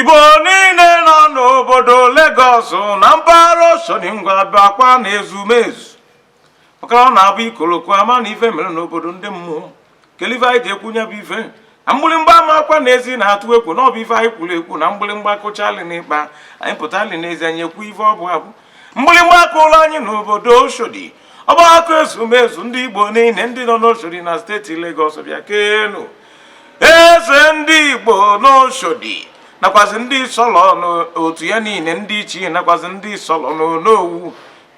igbo niile nọ n'obodo Lagos na mpaghara oshodi ngwa bịakwa na ezumezu maka na ọ na-abụ ikolo kwuo a ma na ife mere n'obodo ndị mmụọ kedu ife anyị ji ekwu nya bụ ife na mgbịrịmgba ama akwa n'ezi na-atụ ekwu na ọ bụ ife anyị kwuru ekwu na mgbịrịmgba kụchaalị n'ikpa anyị pụtaalị n'ezi anyị ekwu ife ọ bụ abụ mgbịrịmgba akụọlọ anyị n'obodo Oshodi ọgbakọ ezumezu ndị Igbo niile ndị nọ n'Oshodi na steeti Legọs bịakenụ eze ndị Igbo n'Oshodi nakwazi ndị solo n'otu ya niile ndị ichie nakwazi ndị solo n'Onowu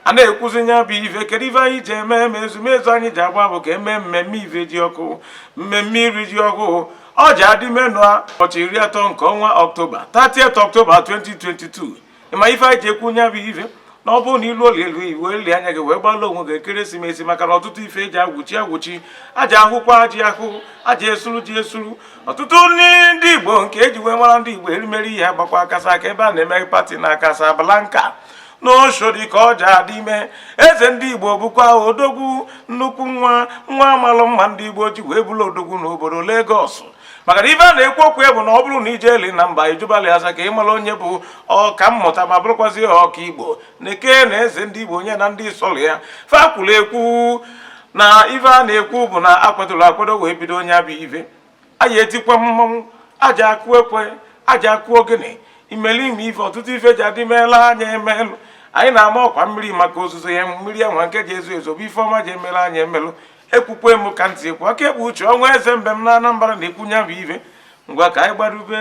a na-ekwuzi nya bụ ife kedu ife anyị ji eme eme ezumezu anyị ji agba bụ ka eme mmemme ifejiọkụ mmemme iri ji ọkụ ọ ja-adị ime n'ụbọchị iri atọ nke ọnwa ọktoba 30th ọktoba 2022 ị ma ife anyị ji ekwu nya bụ ife na ọ bụrụ na i luoli elu i weeli anya gị wee gbalụ onwe gị ekeresimesi maka na ọtụtụ ife eji agwụchi agwụchi a ja-ahụkwa ji ahụ a ja-esuru ji esuru ọtụtụ nri ndị igbo nke eji wee mara ndị igbo erimeri ihe agbakwa kasaa ka ebe a na-eme pati na Casablanca n'oshodi ka ọ ja-adị ime eze ndị igbo bụkwa odogwu nnukwu nwa nwa malụ mma ndị igbo ji wee bụrụ odogwu n'obodo Lagos maka na ife a na-ekwu okwu ya bụ na ọ bụrụ na i jeeli na mba ị jụbalị ase ka ị mara onye bụ ọka mmụta ma bụrụkwazi ọka igbo na-ekene eze ndị igbo nya na ndị solu ya fa kwuru ekwu na ife a na-ekwu bụ na a kwadoro akwado wee bido nya bụ ive a ja-etikwa mmanwụ a ja-akụ ekwe a ja-akụ ogene imelime ife ọtụtụ ife ja-adị meela anya emelụ anyị na-ama ọkwa mmiri maka ozuzo ya mmiri enwe nke ja-ezo ezo bụ ife ọma ji emela anya emelụ ekwukwe m ka ntị ekwu aka ekpuchi ọnwa eze mbem na Anambra na-ekwu nya bụ ife ngwa ka anyị gbarube